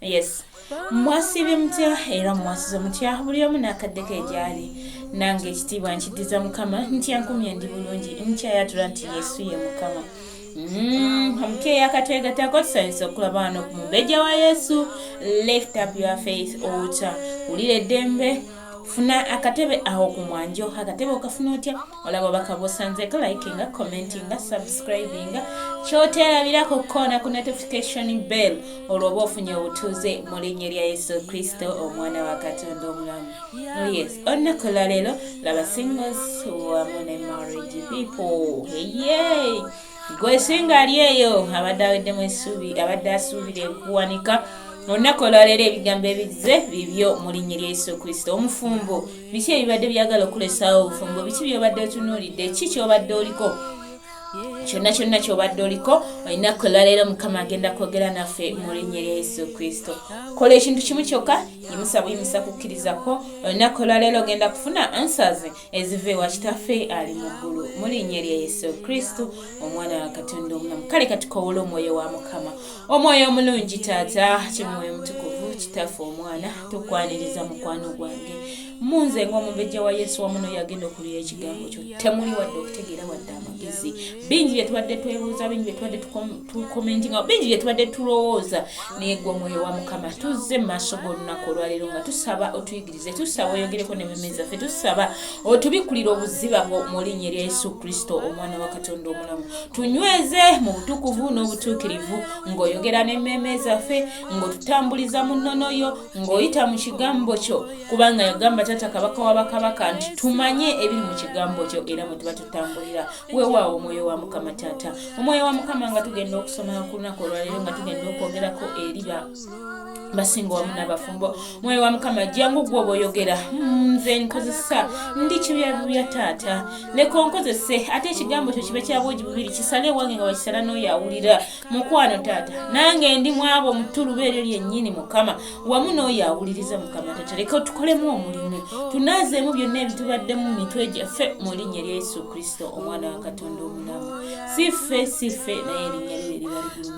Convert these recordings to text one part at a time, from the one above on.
yes mwasiibye mutya era mwasize mutya buli omu n'akadde ke gyali nange ekitiibwa nkiddiza mukama nti ankumye ndi bulungi nkyayatula nti yesu ye mukama mm, omukeeya akatwegatako tusanyusa okulaba wano ku mubejja wa yesu lift up your faith ota wulira eddembe funa akatebe awo ku mwanjo akatebe okafuna otya olaba bakabosanzeko likinga commentinga subscribinga kyoterabirako kukoona ku notification bell olwoba ofunye obutuuze mu linnya lya yesu kristo omwana wa katonda omulamu oh yes olunaku lwaleero laba singles wamu ne marriage people eye gwe singa ali eyo abadde aweddemu essuubi abadde asuubira ekuwanika olunaku olwaleero ebigambo ebizze bibyo mu linnya lya yesu kristo omufumbo biki ebibadde byagala okulesawo obufumbo biki byobadde otunuulidde ki kyobadde oliko kyonna kyonna kyobadde oliko olina kwelwaleero mukama agenda kwogera naffe mu linnya lya yesu kristo kola ekintu kimu kyokka yimusa buyimusa kukkiriza kwo olina kwelwaleero ogenda kufuna answers eziva ewa kitaffe ali mu ggulu mu linnya lya yesu kristo omwana wa katonda omulamu kale katukowole omwoyo wa mukama omwoyo omulungi taata kimwoyo mutukuvu kitaffe omwana tukwaniriza mukwano gwange munze ngaomubejja wa yesu wamuno yagenda okulia ekigambo kyo temuli wadde okutegeera wadde amagezi bingi byetubadde twebuuza bingi byetubadde tukomentinga bingi byetubadde tulowooza naye gwe omwoyo wa mukama tuzze mu maaso g'olunaku olwaleero nga tusaba otuyiga tuwulirize tusaba oyogereko ne meme zaffe tusaba otubikkulire obuziba bwo mu linnya erya yesu kristo omwana wa katonda omulamu tunyweze mu butukuvu n'obutuukirivu ng'oyogera ne meme zaffe ng'otutambuliza mu nnono yo ng'oyita mu kigambo kyo kubanga yagamba taata kabaka wa bakabaka nti tumanye ebiri mu kigambo kyo era mwe tuba tutambulira weewaawo omwoyo wa mukama taata omwoyo wa mukama nga tugenda okusoma ku lunaku olwaleero nga tugenda okwogerako eriba basinga wamu n'abafumbo mwoyo wa mukama jangu gwe obaoyogera hmm, nze nkozesa ndi kibyabibya taata leka onkozese ate ekigambo kyo kibe kyabwogi bubiri kisale ewange nga wakisala n'oyo awulira mukwano taata nange ndi mwabo omutuluba eryo lyennyini mukama wamu n'oyo awuliriza mukama taata leka otukolemu omulimu tunaazeemu byonna ebitubaddemu mu mitwe gyaffe mu linnya lya yesu kristo omwana wa katonda omulamu si ffe si ffe naye erinnya lyo eriba ligulu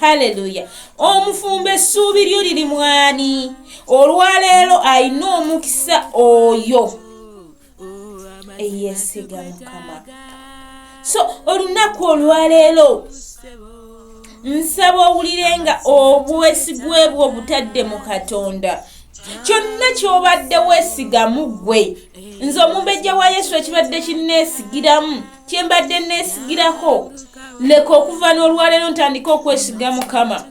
haleluya omufumbo essuubi lyo liri mwani olwaleero alina omukisa oyo eyesiga mukama so olunaku olwaleero nsaba owulire nga obwesigwe bwo butadde mu katonda kyonna kyobadde wesigamu ggwe nze omumbejja wa yesu ekibadde kinneesigiramu kye mbadde nneesigirako leka okuva n'olwaleero ntandike okwesiga mukama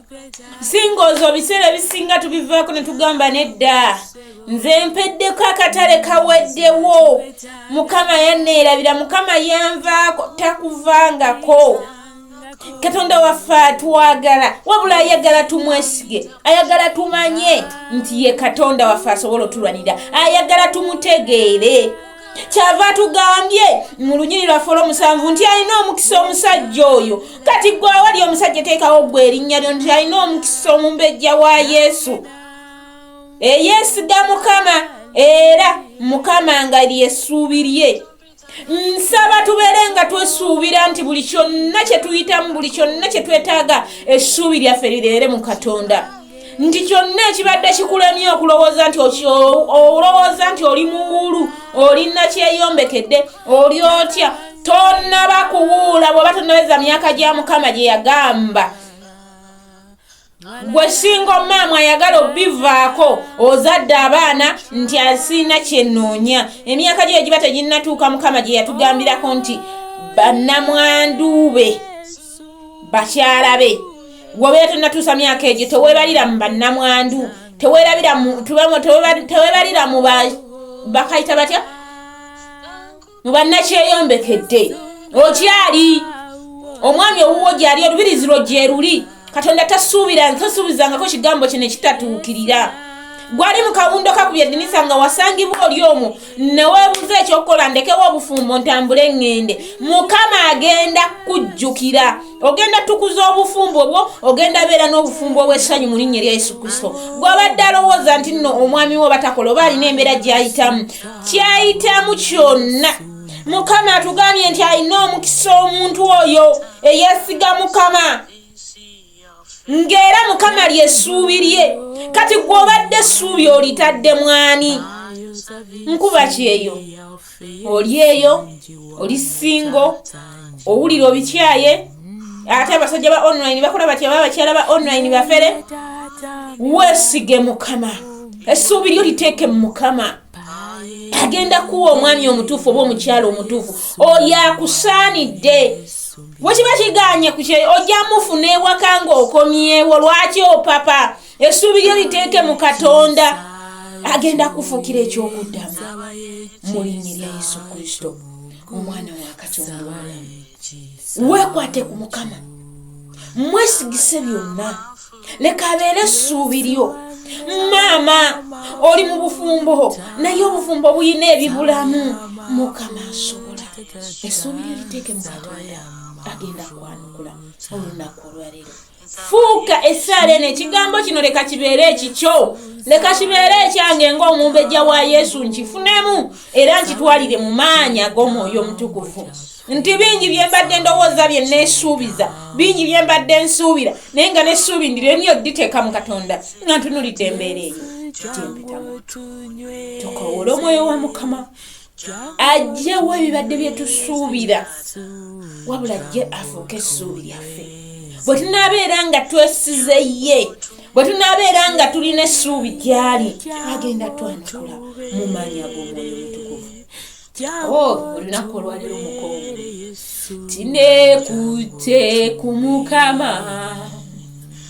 singa ozo biseera ebisinga tubivaako ne tugamba nedda nze mpeddeko akatale kaweddewo mukama yanneerabira mukama yanvaako takuvangako katonda waffe atwagala wabula ayagala tumwesige ayagala tumanye nti ye katonda waffe asobola otulwanira ayagala tumutegeere kyava tugambye mu lunyiri lwaffe olwomusanvu nti alina omukisa omusajja oyo kati gwe awali omusajja teekawo gwe erinnya lyo nti alina omukisa omumbejja wa yesu eyeesiga mukama era mukama nga lyesuubi lye nsaba tubeere nga twesuubira nti buli kyonna kye tuyitamu buli kyonna kye twetaaga essuubi lyaffe lireere mu katonda nti kyonna ekibadde kikulemye okulowooza nti olowooza nti oli muwuulu oli nakyeyombekedde oli otya tonnaba kuwuula bw'oba tonnaweza myaka gya mukama gye yagamba gwe singa omaamu ayagala obivaako ozadde abaana nti asiina kyenoonya emyaka gyo egiba teginnatuuka mukama gye yatugambirako nti bannamwanduube bakyala be wobeera tonatuusa myaka egyo tewebalira mu bannamwandu tewebalira mu bakayita batya mu bannakyeyombekedde okyali omwami owuwo gyali olubirizi lwo gyeruli katonda tasuubira tasuubizangako kigambo kino ekitatuukirira gwali mu kawundo kakubya dinisa nga wasangibwa oli omwo neweebuza ekyokukola ndekewo obufumbo ntambule ŋŋende mukama agenda kujjukira ogenda tukuza obufumbo bwo ogenda beera n'obufumbo obw'essanyu mu linnya erya yesu kristo gw'abadde alowooza nti nno omwami wo batakola oba alina embeera gy'ayitamu ky'ayitamu kyonna mukama atugambye nti alina omukisa omuntu oyo eyesiga mukama ng'era mukama ly'essuubi lye kati gw'obadde essuubi olitadde mwani nkuba kyeyo oli eyo oli singo owulira obikyaye ate abasajja ba online bakola batya baba bakyala ba online bafere weesige mukama essuubi lyo liteeke mu mukama agenda kuwa omwami omutuufu oba omukyala omutuufu oyo akusaanidde wekiba kiganye ku kyeyo ojja mufuna ewaka ng'okomyewo lwaki opapa essuubi lyo liteeke mu katonda agenda kufuukira eky'okuddamu mu linnya lya yesu kristo omwana wa katonda weekwate ku mukama mwesigise byonna leka abeere essuubi lyo maama oli mu bufumbo naye obufumbo bulina ebibulamu mukama asobola essuubi lyo liteeke mu katonda agenda kwanukula olunaku olwaleero fuuka essaala eno ekigambo kino leka kibeere ekikyo leka kibeere ekyange ng'omumbejja wa yesu nkifunemu era nkitwalire mu maanyi ag'omwoyo omutukuvu nti bingi bye mbadde ndowooza bye neesuubiza bingi bye mbadde nsuubira naye nga nesuubi ndiremye odditeeka mu katonda nga ntunulidde embeera eyo gyempitamu tukowole omwoyo wa mukama ajjewo ebibadde bye tusuubira wabula ajje afuuke essuubi lyaffe bwe tunaabeera nga twesize ye bwe tunaabeera nga tulina essuubi gyali agenda twanukula mu maanya g'omwoyo mutukuvu o oh, olunaku olwaliro mukowu tinekutte ku mukama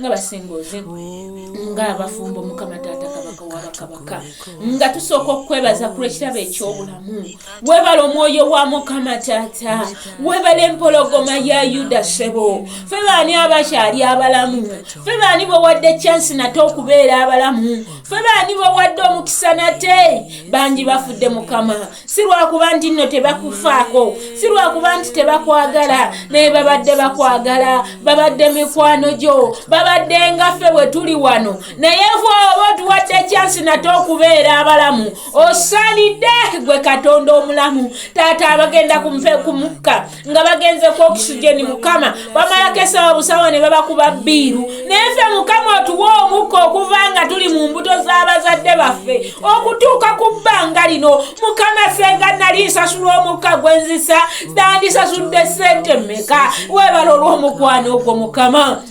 nga basinga ozibu nga abafumbo mukama taata kabaka wabakabaka nga tusooka okukwebaza ku lwekirabo ekyobulamu webala omwoyo wa mukama taata webala empologoma ya yuda sebo fe baani abakyali abalamu fe baani bowadde kyansi nate okubeera abalamu fe baani bowadde omukisa nate bangi bafudde mukama si lwakuba nti nno tebakufaako si lwakuba nti tebakwagala naye babadde bakwagala babadde mikwano gyo babadde ngaffe bwe tuli wano naye va oba otuwadde kyansi nate okubeera abalamu osaanidde gwe katonda omulamu taata abagenda kumukka nga bagenze ku oxygen mukama bamalako esawa busawa ne babakuba bbiiru naye ffe mukama otuwa omukka okuva nga tuli mu mbuto z'abazadde baffe okutuuka ku bbanga lino mukama senga nali nsasula omukka gwe nzisa nandisasudde ssente mmeka webala olw'omukwano ogwo mukama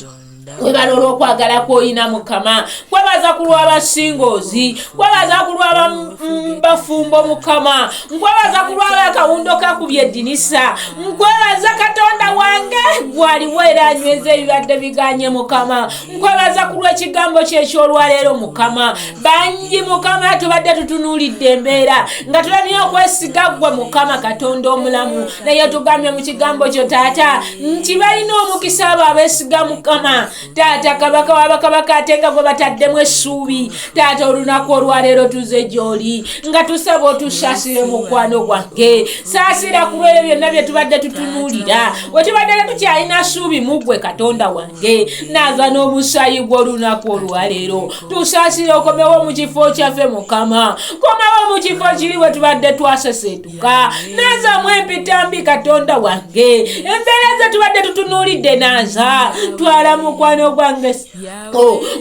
webala olwokwagala kwoyina mukama nkwebaza ku lwabasingoozi nkwebaza ku lwabafumbo mm, mukama nkwebaza ku lwabakawundo kakubye eddinisa nkwebaza katonda wange gwaliwo era anyweza ebibadde biganye mukama nkwebaza ku lwekigambo kyekyolwaleero mukama bangi mukama tubadde tutunuulidde embeera nga tulabye okwesiga ggwe mukama katonda omulamu naye tugambye mu kigambo kyo taata nti balina omukisa abo abeesiga mukama taata kabaka wabakabaka ate nga gwe bataddemu essuubi taata olunaku olwaleero tuze gyoli nga tusaba otusaasire mukwano gwange saasira ku lwebyo byonna bye tubadde tutunuulira we tubadde tetukyalina ssuubi mu ggwe katonda wange ge naava n'omusaayi gw'olunaku olwaleero tusaasire okomewo mu kifo kyaffe mukama komawo mu kifo kiri bwe tubadde twaseseetuka nazamu empitambi katonda wange embeera ze tubadde tutunuulidde naza twala mukwano gwange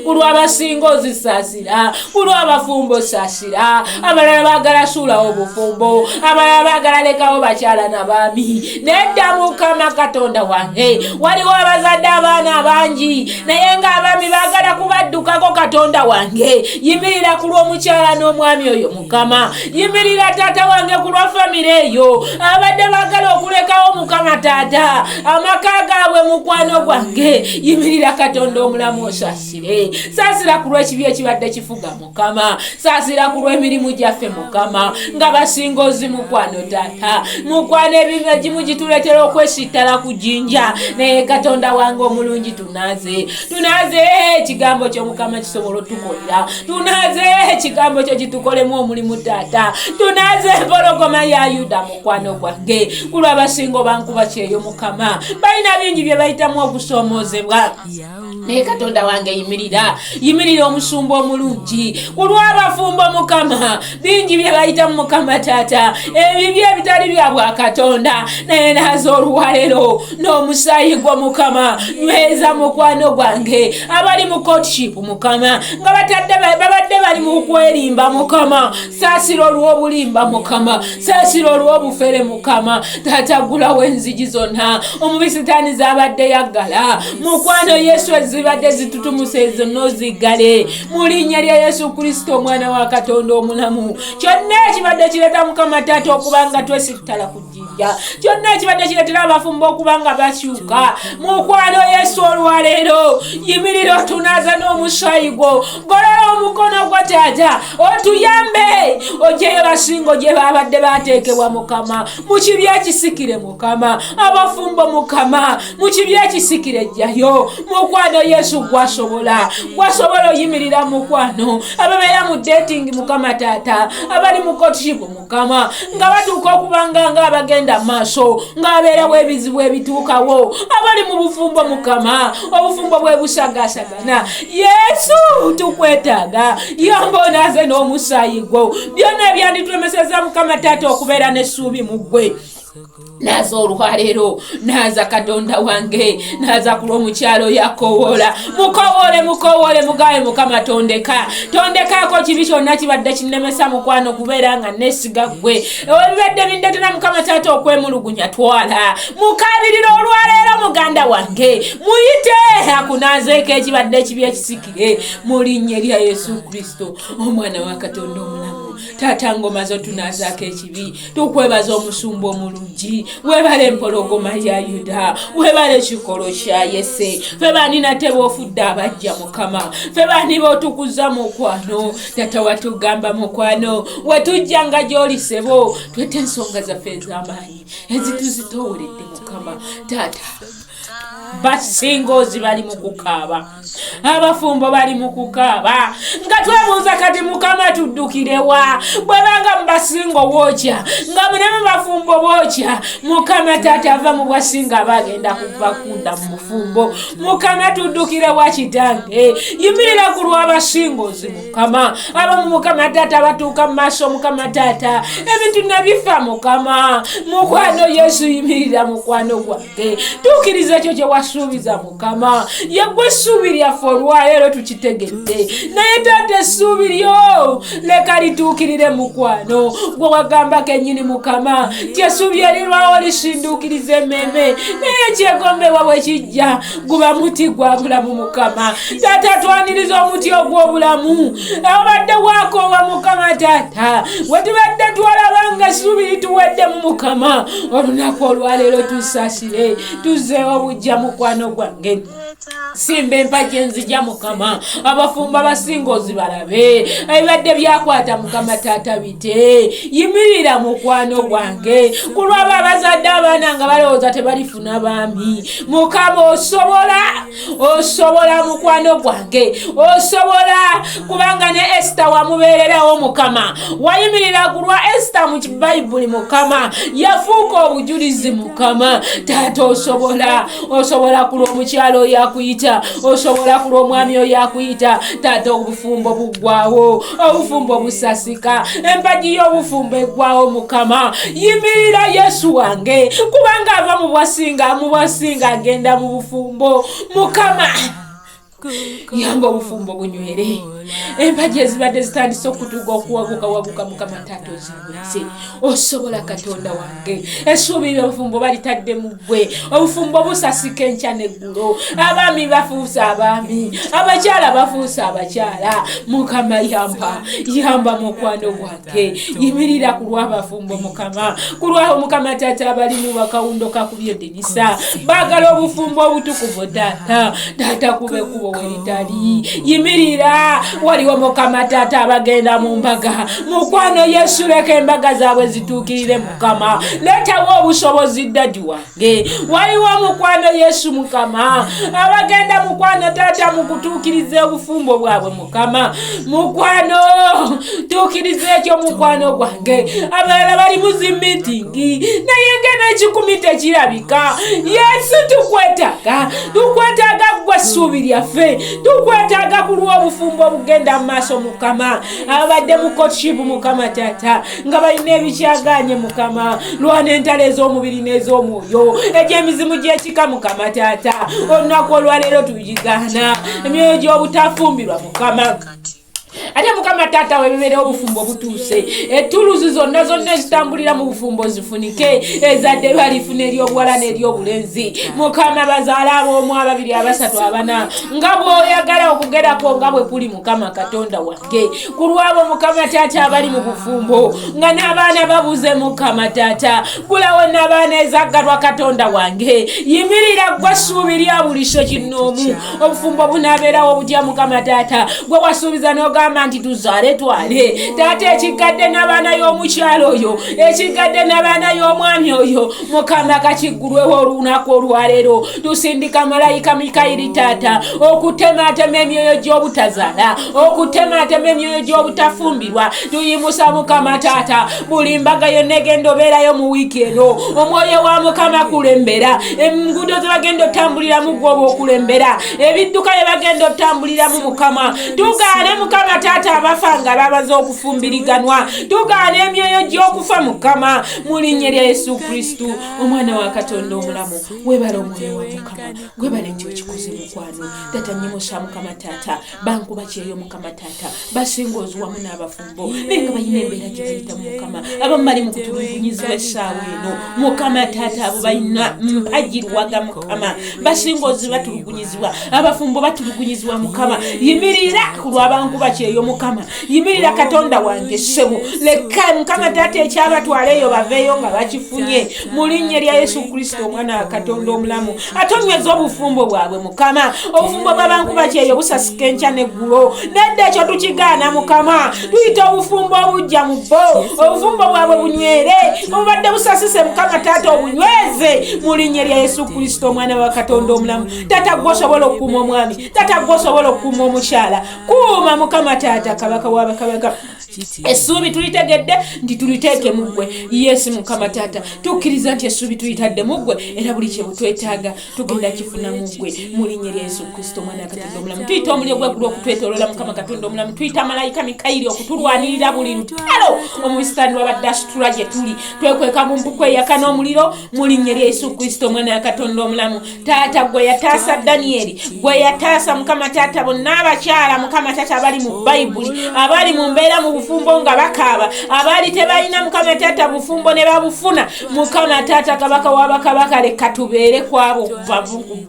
ku lw'abasinga ozisaasi sasira kulwa abafumbo sasira abalala bagala suula obufumbo abalala bagala lekawo bakyala na baami nedda mukama katonda wange waliwo abazadde abaana abangi naye nga abaami bagala kubaddukako katonda wange yimirira ku lw'omukyala n'omwami oyo mukama yimirira taata wange ku lwa famire eyo abadde bagala okulekawo mukama taata amaka gaabwe mukwano gwange yimirira katonda omulamu osasi Eh, saasira ku lw'ekibi ekibadde kifuga mukama saasira ku lw'emirimu gyaffe mukama nga basinga ozi mukwano taata mukwano ebintu egimu gituleetera okwesittala ku jinja naye katonda wange omulungi tunaaze tunaaze ekigambo kyo mukama kisobola otukolera tunaaze ekigambo kyo kitukolemu omulimu taata tunaaze empologoma ya yuda mukwano gwange kulwa basinga obankuba kyeyo mukama balina bingi bye bayitamu okusoomozebwa naye katonda wange yimirira yimirira omusumba omulungi kulwabafumbo mukama bingi byebayita mu mukama taata ebibi ebitali bya bwakatonda naye naza oluwalero n'omusayi gwo mukama nyweza mukwano gwange abali mu kotship mukama nga babadde bali mu kwerimba mukama saasira olw'obulimba mukama saasira olw'obufere mukama taata gulawo enzigi zonna omubi sitaani zaabadde yaggala mukwano yesu ezibadde zitutumusa ezo noziggale mu linnya lya yesu kristo omwana wa katonda omulamu kyonna ekibadde kireeta mukama taata okuba nga twesittala ku jjinja kyonna ekibadde kireetera abafumba okuba nga bakyuka mukwano yesu olwaleero yimirira otunaza n'omusaayi gwo golola omukono gwo tata otuyambe ojeyo basingo gye babadde bateekebwa mukama mu kibi ekisikire mukama abafumbo mukama mu kibi ekisikire jjayo mukwano yesu gwasobola gwasobola oyimirira mukwano ababeera mu dating mukama tata abali mu kotibu mukama nga batuuka okubanga nga abagenda maaso ng'abeerawo ebizibu ebituukawo abali mu bufumbo mukama obufumbo bwe busagasagana yesu tukwetaaga yomba onaaze n'omusaayi gwo byonna ebyanditulemeseza mukama taata okubeera n'essuubi mu ggwe naza olwaleero naza katonda wange naza ku lwomukyalo yakowoola mukowoole mukowoole mugawe mukama tondeka tondekaako kibi kyonna kibadde kinemesa mukwano kubeera nga nesiga gwe ebibadde bindetera mukama taata okwemulugunya twala mukabirira olwaleero muganda wange muyite akunazeeko ekibadde ekibi ekisikire mu linnya erya yesu kristo omwana wa katonda omulamu taata ngoma zo tunazaako ekibi tukwebaza omusumba omulungi webale empologoma ya yuda webale ekikolo kya yese fe bani nate bofudde abajja mukama fe bani botukuza mukwano tata watugamba mukwano watujja nga gyoli sebo twete ensonga zaffe ez'amaanyi ezituzitowolede mukama tata basinga ozi bali mu kukaaba abafumbo bali mu kukaaba nga twebuuza kati mukama tuddukirewa bwebanga mubasinga obwokya nga munemu bafumbo bwokya mukama taata ava mu bwasinga bagenda kuva kunda mu bufumbo mukama tuddukirewa kitange yimirira ku lwabasinga ozi mukama abamu mukama taata batuuka mu maaso mukama taata ebintu nabifa mukama mukwano yesu yimirira mukwano gwange tuukiriza ekyo kyewasuubiza mukama yegwe essuubi lyaffe olwaleero tukitegedde naye taata essuubi lyo leka lituukirire mukwano gwe wagamba kenyini mukama ti essuubi erirwawo lisinduukiriza emmeeme naye ekyegombebwa bwe kijja guba muti gwa bulamu mukama taata twaniriza omuti ogw'obulamu abadde wakoowa mukama taata we tubadde twalaba nga essuubi lituweddemu mukama olunaku olwaleero tusasire tuzeewo bujja mukwano gwange simba empagi enzija mukama abafumba basinga ozibalabe ebibadde byakwata mukama taata bite yimirira mukwano gwange kulwaba abazadde abaana nga balowooza tebalifuna baami mukama osobola osobola mukwano gwange osobola kubanga ne esita wamubeererawo mukama wayimirira ku lwa esita mu kibayibuli mukama yafuuka obujulizi mukama taata osobola osobola ku lw'omukyalo oyo akuyita osobola ku lw'omwami oyo akuyita taata obufumbo buggwawo obufumbo obusasika empagi y'obufumbo eggwawo mukama yimirira yesu wange kubanga ava mu bwasinga mu bwasinga agenda mu bufumbo mukama yamba obufumbo bunywere empagi ezibadde zitandise okutuga okuwaguka waguka mukama taata ozibulise osobola katonda wange esuubi lyobufumbo balitadde mu gwe obufumbo busasika enkya neggulo abaami bafuusa abaami abakyala bafuusa abakyala mukama yamba yamba mukwano gwange yimirira ku lwabafumbo mukama ku lwabo mukama taata abali mu bakawundo kakubye dinisa baagala obufumbo obutukuvu taata taata kube kubo weritali yimirira waliwo mukama taata abagenda mu mbaga mukwano yesu leka embaga zaabwe zituukirire mukama leetawo obusobozi dadi wange waliwo mukwano yesu mukama abagenda mukwano taata mukutuukiriza obufumbo bwabwe mukama mukwano tuukiriza ekyo mukwano gwange abalala bali muzimitingi naye ngena ekikumi tekirabika yesu tukwetaaga tukwetaaga gwe ssuubi lyaffe tukwetaaga ku lw'obufumbo obugenda mu maaso mukama abadde mukotkibu mukama taata nga balina ebikyagaanye mukama lwana entalo ez'omubiri n'ez'omwoyo egy'emizimu gy'ekika mukama taata olunaku olwaleero tugigaana emyoyo gy'obutafumbirwa mukama ate mukama taata webibeerewo obufumbo obutuuse etuluzi zonna zonna ezitambulira mu bufumbo zifunike ezadde balifuna eryobuwala n'eryobulenzi mukama bazaala aboomu ababiri abasatu abana nga bwoyagala okugerako nga bwe kuli mukama katonda wa ge ku lwabo mukama taata abali mu bufumbo nga n'abaana babuze mukama taata gulawo n'abaana ezaggalwa katonda wange yimirira gwe ssuubi lya buliso kinnoomu obufumbo bunaabeerawo butya mukama taata gwe wasuubiza n'ogamba nti tuzaale twale taata ekiggadde n'abaana y'omukyalo oyo ekiggadde n'abaana y'omwami oyo mukama kakiggulwewo olunaku olwaleero tusindika malayika mikayiri taata okutemaatema emyoyo gy'obutazaala okutemaatema emyoyo gy'obutafumbirwa tuyimusa mukama taata buli mbaga yonna egenda obeerayo mu wiiki eno omwoyo wa mukama kulembera enguudo ze bagenda otambuliramu gwoba okulembera ebidduka bye bagenda otambuliramu mukama tugaane mukama taata abafa nga babaza okufumbiriganwa tugaane emyoyo gy'okufa mukama mu linnya lya yesu kristu omwana wa katonda omulamu webale omwoyo wa mukama gwebale nti okikoze mukwano tata nyimusa mukama taata bankuba kyeyo mukama taata basinga ozi wamu n'abafumbo naye nga balina embeera gye bayitamu mukama abamu bali mu kutulugunyizibwa essaawa eno mukama taata abo balina mpagiruwaga mukama basinga ozi batulugunyizibwa abafumbo batulugunyizibwa mukama yimirira ku lwabankuba kyeyo mukama yimirira katonda wange ssebo leka mukama taata ekyabatwala eyo baveeyo nga bakifunye mu linnya lya yesu kristo omwana wa katonda omulamu atonyweza obufumbo bwabwe mukama obufumbo bw'abankuba kyeyo busasika enkya n'eggulo nedda ekyo tukigaana mukama tuyita obufumbo obujja mu bo obufumbo bwabwe bunywere obubadde busasise mukama taata obunyweze mu linnya lya yesu kristo omwana wa katonda omulamu taata gwe osobola okukuuma omwami taata gwe osobola okukuuma omukyala kuuma mukama taata kabaka wabakabaka essuubi tulitegedde nti tuliteeke mu ggwe yesu mukama taata tukkiriza nti essuubi tulitadde mu ggwe era buli kyebutwetaaga tugenda kifuna mu ggwe mu linnya lya yesu kristo omwana katonda omulamu tuyita omulyo gwegulu okutwetolola mukama katonda omulamu tuyita malayika mikayiri okutulwanirira buli lutalo omubisitani wabadde asitula gye tuli twekweka mu mpuku eyaka n'omuliro mu linnya lya yesu kristo omwana ya katonda omulamu taata gwe yataasa daniyeli gwe yataasa mukama taata bonna abakyala mukama taata abali mu bayibuli abali mu mbeera mu bufumbo nga bakaaba abaali tebalina mukama taata bufumbo ne babufuna mukama taata kabaka wabakabaka leka tubeere kwabo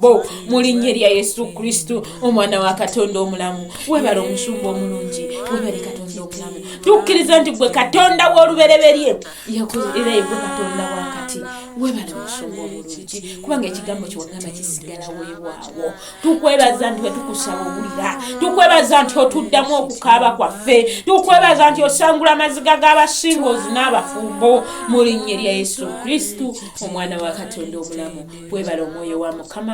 bo mu linnya erya yesu kristo omwana wa katonda omulamu webale omusumba omulungi webale katonda omulamu tukkiriza nti gwe katonda w'olubereberye yakoze era yegwe katonda wakati webale musumba obulungi kubanga ekigambo kyewagamba kisigala wewaawo tukwebaza nti wetukusaba obulira tukwebaza nti otuddamu okukaaba kwaffe tukwebaza nti osangula amaziga g'abasinga ozina abafumbo mu linnya lya yesu kristu omwana wa katonda omulamu webale omwoyo wa mukama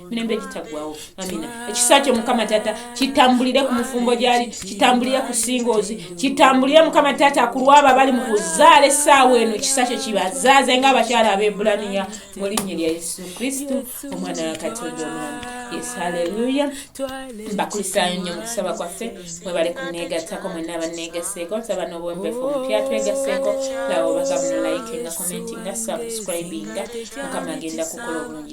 mirembe egitaggwawo amina ekisa kyo mukama taata kitambulire ku mufumbo gyali kitambulire ku singoozi kitambulire mukama taata ku lwabo abali mu kuzaala essaawa eno ekisa kyo kibazaaze ngaabakyala abeebulaniya mu linnya lya yesu kristu omwana wa katonda omwana yes haleluya mbakulisaayo nnyo mu kusaba kwaffe mwebale kuneegattako mwenna abanneegaseeko nsaba n'obwembefu omupya twegaseeko lawo bakabunolayike nga commenti nga subscribinga mukama agenda kukola obulungi